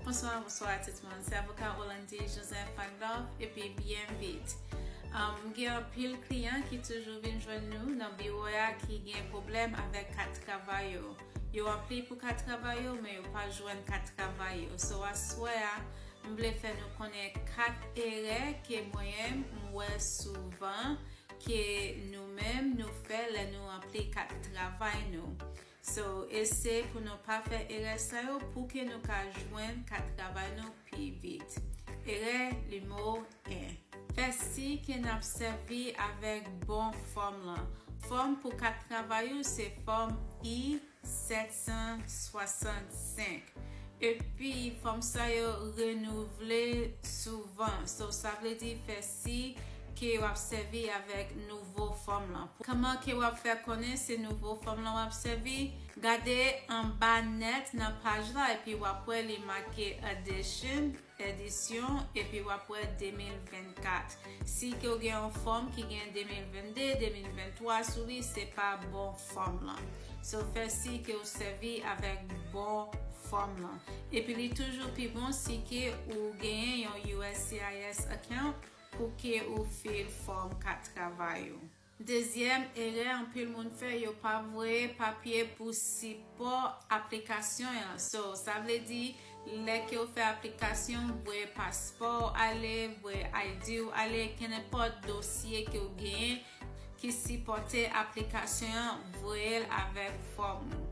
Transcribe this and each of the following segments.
Bonswa, bonswa tout moun. Se avoka Rolandi Joseph Pandor epi BMVIT. M gen anpil kliyan ki toujou vin jwenn nou nan biwo a ki gen pwoblèm avèk kat travay yo. Yo aplye pou kat travay yo men yo pa jwenn kat travay yo. So aswè a, m vle fè nou konnen 4 erè ke mwen m wè souvan ke nou menm nou fè lè nou anpli kat travay nou. So eseye pou nou pa fè erè sa yo pou ke nou ka jwenn kat travay nou pi vit. Erè nimewo 1. Fè siy ke n ap sèvi avèk bon fòm lan. Fòm pou kat travay ou se fòm I-765. Epi fanm sa yo renouvle souvan so sa vle di fè si ke wap sèvi avèk nouvo fanm lan. Kman ke wap fè konnen se nouvo fanm lan wap sèvi? Gade anba nèt nan paj la epi wap wè li make addition. edisyon epi wap wè 2024 si ke ou gen yon fòm ki gen 2022, 2023 sou li se pa bon fòm lan so fè si ke ou sèvi avèk bon fòm lan epi li toujou pi bon si ke ou genyen yon uscis account pou ke ou fil fòm kat travay ou. Dezyèm erè anpil moun fè yo pa voye papye pou sipò aplikasyon an so sa vle di lè ke ou fè aplikasyon voye paspò ou ale voye ID ou ale kenenpòt dosye ke ou genyen ki sipòte aplikasyon an voye l avèk fòm ou.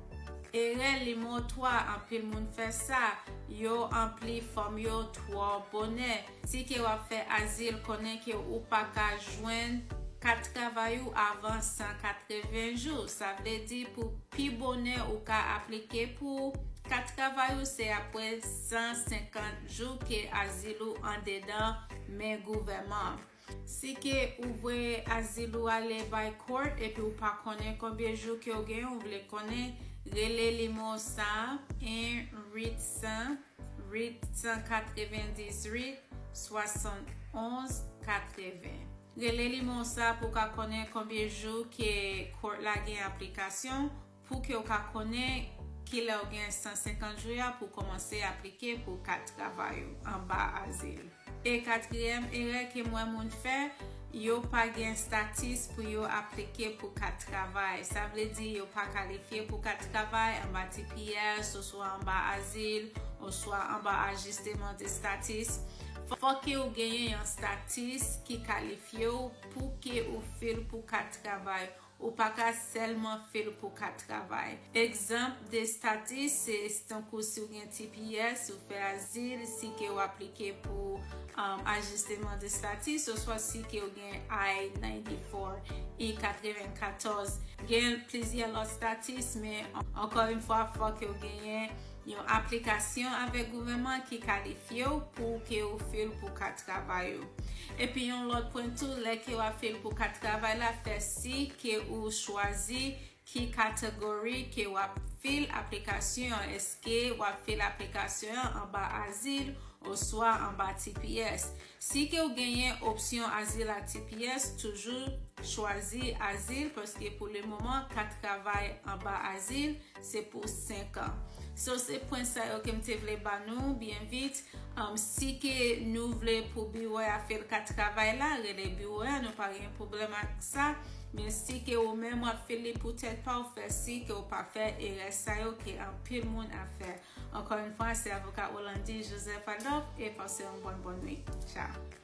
Erè nimewo 3 anpil moun fè sa yo anpli fòm yo twò bonè. Si ke wap fè azil konnen ke ou pa ka jwenn kat travay ou avan 180 jou. Sa vle di pou pi bonè ou ka aplike pou kat travay ou se apre 150 jou ke azil ou andedan men gouvèman. Si ke ou voye azil ou ale bay court epi ou pa konnen konbyen jou ke ou gen ou vle konnen, rele nimewo sa a 1 800. Rit 190 Rit 71 80 Rele limen w sa pou w ka konnen konbyen jou ke Court la gen aplikasyon pou ke w ka konnen kilè w gen 150 jou ya pou w komanse aplike pou kat travay ou anba azil. E katriyèm erè ke m wè moun fè, yo pa gen statis pou yo aplike pou kat travay. Sa vle di yo pa kalifye pou kat travay anba tps oswa anba azil oswa anba ajisteman de statis. Fòk ke ou genyen yon statis ki kalifye ou pou ke ou fil pou kat travay. Ou pa ka sèlman fè l pou kat travay. Egzanp de status se tankou si w gen tps, si w fè azil, si ke w aplike pou ajisteman de status, oswa si ke w gen I-94, I-94. Gen plizyè lòt status, men ankò yon fwa fò ke w genyen. Yon aplikasyon avèk gouvèman ki kalifye w pou ke ou fil pou kat travay ou. Epi yon lòt pwen tou lè ke w ap fil pou kat travay la fè si ke ou chwazi ki category ke w ap fil aplikasyon an eske w ap fil aplikasyon an anba azil oswa anba tps. Si ke w genyen opsyon azil ak tps, toujou chwazi azil paske pou le moman kat travay anba azil se pou 5 an. So se pwen sa yo ke m te vle ba nou byen vit. Si ke nou vle pou biwo a fè kat travay la, rele biwo a nou pa gen pwoblèm ak sa. Men si ke ou menm w ap fè li pou tèt pa w, fè si ke w pa fè erè sa yo ke anpil moun ap fè. Ankò yn fwa se avoka Rolande Joseph Adolphe e pase yon bòn bòn nwit. Tchao.